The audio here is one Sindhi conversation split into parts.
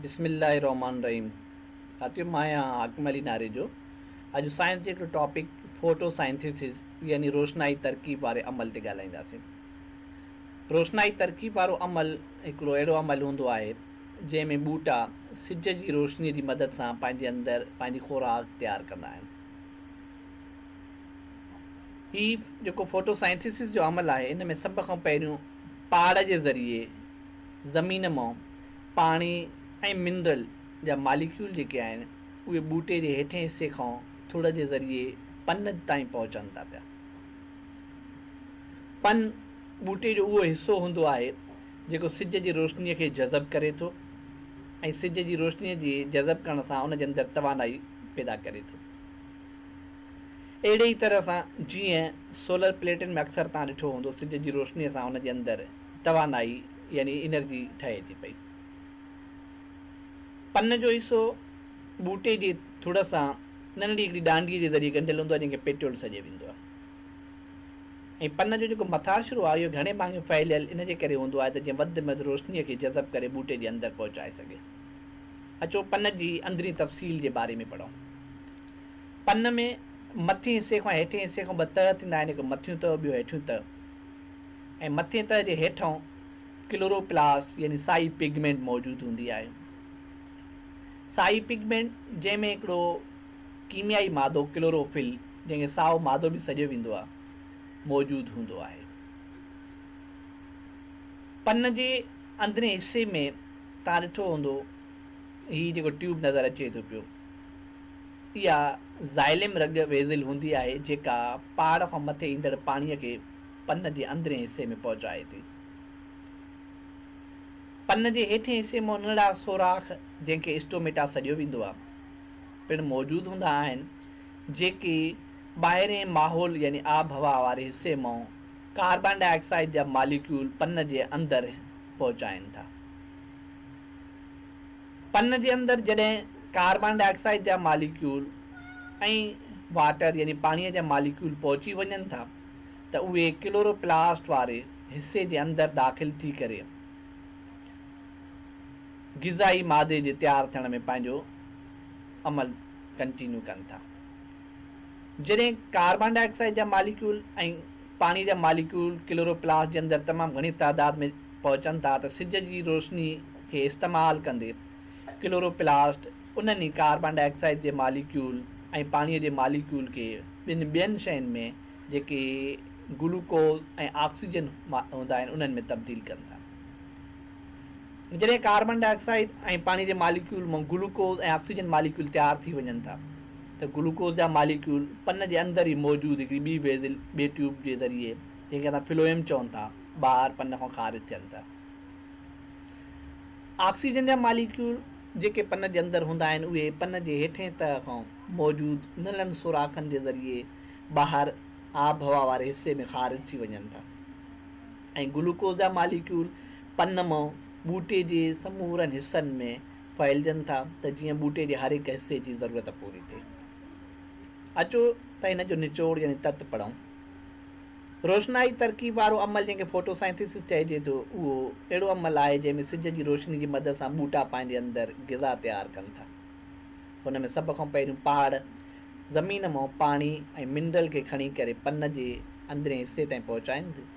بسم الله الرحمٰن الرحيم ساٿيو مان آهيان حاڪم علي ناريجو اڄ سائنس جي هڪڙي ٽاپڪ فوٽو سائنٿيسز يعني روشنائي ترڪيب واري عمل تي ڳالهائينداسين روشنائي ترڪيب وارو عمل هڪڙو اهڙو عمل هوندو آهي جنهن ۾ ٻوٽا سج جي روشني جي مدد سان پنهنجي اندر پنهنجي خوراڪ تيار ڪندا آهن هي جيڪو فوٽو سائنٿيسز جو عمل آهي ان ۾ سڀ کان پهريون پاڙ جي ذريعي زمين مان پاڻي ۽ منرل جا ماليڪيول جيڪي آهن اهي ٻوٽي جي هيٺين حصي کان ٿڙ جي ذريعي پن تائين پهچن ٿا پيا. پن ٻوٽي جو اهو حصو هوندو آهي جيڪو سج جي روشني کي جذب ڪري ٿو ۽ سج جي روشني جي جذب ڪرڻ سان ان جي اندر توانائي پيدا ڪري ٿو. اهڙي ئي طرح سان جيئن سولر پليٽن ۾ اڪثر توهان ڏٺو هوندو سج جي روشني سان ان جي اندر توانائي يعني انرجي ٺهي ٿي پئي. پن جو حصو ٻوٽي جي ٿڙ سان ننڍڙي هڪڙي ڏانڊيء جي ذريعي ڳنڍيل هوندو آهي جنهن کي پيٽيول سڏيو ويندو آهي ۽ پن جو جيڪو مٿاڇرو آهي اهو گهڻي ڀاڱي ڦهليل ان جي ڪري هوندو آهي ته جيئن وڌ ۾ وڌ روشنيء کي جذب ڪري ٻوٽي جي اندر پهچائي سگهي. اچو پن جي اندرين تفصيل جي باري ۾ پڙهون. پن ۾ مٿين حصي کان هيٺين حصي کان ٻه تهه ٿيندا آهن هڪ مٿيون تهه ٻيو هيٺيون تهه. ۽ مٿين تهه جي هيٺئون ڪلوروپلاسٽ يعني سائي پگمينٽ موجود هوندي آهي. سائي پگمينٽ جنهن ۾ هڪڙو ڪيميائي مادو ڪلوروفل جنهن کي سائو مادو به سڏيو ويندو آهي موجود هوندو آهي. پن جي اندرين حصي ۾ توهان ڏٺو هوندو هي جيڪو ٽيوب نظر اچي ٿو پيو. اها زائليم رڳ ويزل هوندي آهي جيڪا پهاڙ کان مٿي ايندڙ پاڻي کي پن جي اندرين حصي ۾ پهچائي ٿي. پن جي هيٺين حصي مان ننڍڙا سوراخ جنهن کي اسٽوميٽا سڏيو ويندو آهي پڻ موجود هوندا آهن جيڪي ٻاهرين ماحول يعني آب هوا واري حصي مان ڪاربان ڊاء آڪسائيڊ جا ماليڪيول پن جي اندر پهچائين ٿا. پن جي اندر جڏهن ڪاربان ڊاء آڪسائيڊ جا ماليڪيول ۽ واٽر يعني پاڻيء جا ماليڪيول پهچي وڃن ٿا ته اهي ڪلورو پلاسٽ واري حصي جي اندر داخل ٿي ڪري غذائي مادي جي تيار ٿيڻ ۾ پنهنجو عمل ڪنٽينيو ڪن ٿا. جڏهن ڪاربان ڊاء آڪسائيڊ جا ماليڪيول ۽ پاڻيء جا ماليڪيول ڪلورو پلاسٽ جي اندر تمام گهڻي تعداد ۾ پهچن ٿا ته سج جي روشني کي استعمال ڪندي، ڪلوروپلاسٽ انهن ئي ڪاربان ڊاء آڪسائيڊ جي ماليڪيول ۽ پاڻيء جي ماليڪيول کي ٻن ٻين شين ۾ جيڪي گلوڪوز ۽ آڪسيجن هوندا آهن انهن ۾ تبديل ڪن ٿا. جڏهن ڪاربان ڊاء آڪسائيڊ ۽ پاڻيء جي ماليڪيول مان گلوڪوز ۽ آڪسيجن ماليڪيول تيار ٿي وڃن ٿا ته گلوڪوز جا ماليڪيول پن جي اندر ئي موجود هڪڙي ٻي ويزل، ٻي ٽيوب، جي ذريعي جنهن کي اسان فلوئم چون ٿا، ٻاهر پن کان خارج ٿين ٿا. آڪسيجن جا ماليڪيول جيڪي پن جي اندر هوندا آهن اهي پن جي هيٺئين تهه کان موجود نلن سوراخن جي ذريعي ٻاهر آبهوا واري حصي ۾ خارج ٿي وڃن ٿا ۽ گلوڪوز جا ماليڪيول پن مان ٻوٽي جي سمورن حصن ۾ ڦهلجن ٿا ته جيئن ٻوٽي جي هر هڪ حصي جي ضرورت پوري ٿئي اچو ته هن جو نچوڙ يعني تت پڙهون. روشنائي ترڪيب وارو عمل جنهن کي فوٽو سائنٿيسس چئجي ٿو اهو اهڙو عمل آهي جنهن ۾ سج جي روشني جي مدد سان ٻوٽا پنهنجي اندر غذا تيار ڪن ٿا. هن ۾ سڀ کان پهريون پهاڙ زمين مان پاڻي ۽ منرل کي کڻي ڪري پن جي اندرين حصي تائين پهچائين ٿيون.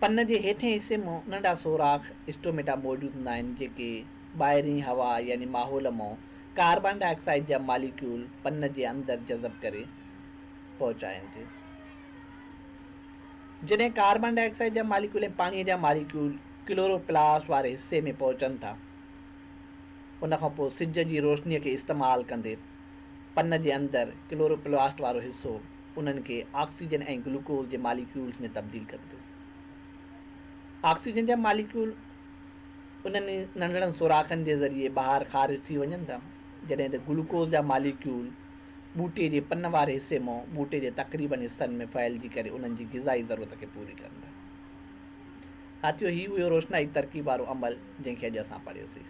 پن جي هيٺين حصي مان ننڍا سوراخ، اسٽوميٽا، موجود هوندا آهن جيڪي ٻاهرين هوا يعني ماحول مان ڪاربان ڊاء آڪسائيڊ جا ماليڪيول پن جي اندر جذب ڪري، پهچائين ٿيون. جڏهن ڪاربان ڊاء آڪسائيڊ جا ماليڪيول ۽ پاڻيء جا ماليڪيول ڪلورو پلاسٽ واري حصي ۾ پهچن ٿا، ان کان پوء سج جي روشنيء کي استعمال ڪندي پن جي اندر ڪلورو پلاسٽ وارو حصو انهن کي آڪسيجن ۽ گلوڪوز جي ماليڪيولز ۾ تبديل ڪري ٿو. آڪسيجن جا ماليڪيول انهن ئي ننڍڙن سوراخن جي ذريعي ٻاهر خارج ٿي وڃن ٿا، جڏهن ته گلوڪوز جا ماليڪيول ٻوٽي جي پن واري حصي مون ٻوٽي جي تقريبن حصن ۾ ڦهلجي ڪري انهن جي غذائي ضرورت کي پوري ڪن ٿا. ساٿيو هي اهو روشنائي ترڪيب وارو عمل جنهن کي اڄ اسان پڙهيوسين.